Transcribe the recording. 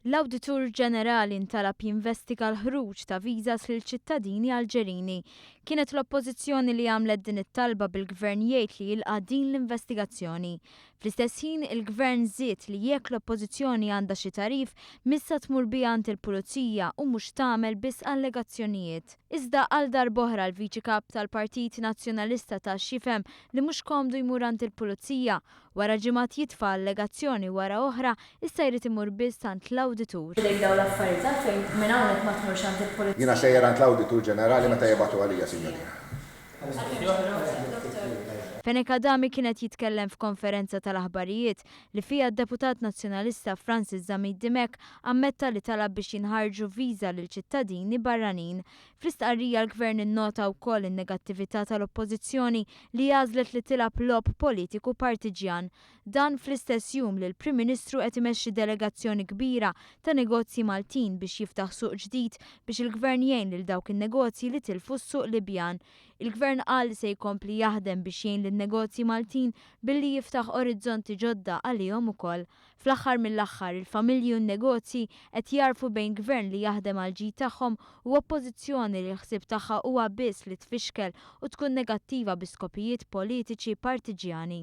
L-Awditur Ġenerali ntalab jinvestiga l-ħruġ ta' visas lil ċittadini Alġerini. Kienet l-Oppożizzjoni li għamlet din it-talba bil-Gvern jgħid li jilqa' din l-investigazzjoni. Fl-istess ħin, il-Gvern żied li jekk l-Oppożizzjoni għandha xi tagħrif, missa tmur biha għand il-Pulizija u mhux tagħmel biss allegazzjonijiet. Iżda għal darb'oħra l-Viċi Kap tal-Partit Nazzjonalista ta x'jifhem li mhux komdu jmur għand il-Pulizija Wara ġimgħat jitfa' allegazzjoni wara oħra, issa jrid imur biss għand l-Awditur. F'idejk dawn l-affarijiet għalfejn minn hawnhekk ma tmurx għand il-Pulizija. Jiena sejjer għand l-Awditur Ġenerali meta jibagħtu għalija, Sinjorina. Fenech Adami kien qed jitkellem f'konferenza tal-aħbarijiet li fiha d-Deputat Nazzjonalista Francis Zammit Dimech ammetta li talab biex jinħarġu viża lil ċittadini barranin. Fl-istqarrija l-Gvern innota wkoll in-negattività tal-Oppożizzjoni li għażlet li tilgħab logħob politiku partiġjan. Dan fl-istess jum li l-Prim Ministru qed imexxi delegazzjoni kbira ta' negozji Maltin biex jiftaħ suq ġdid biex il-Gvern jgħin lil dawk in-negozji li tilfu s-suq Libjan. Il-Gvern qal li se jkompli jaħdem biex jgħin lin-negozji Maltin billi jiftaħ orizzonti ġodda għalihom ukoll. Fl-aħħar mill-aħħar, il-familji u n-negozji qed jagħrfu bejn Gvern li jaħdem għall-ġid tagħhom u Oppożizzjoni li l-ħsieb tagħha huwa biss li tfixkel u tkun negattiva bi skopijiet politiċi partiġjani.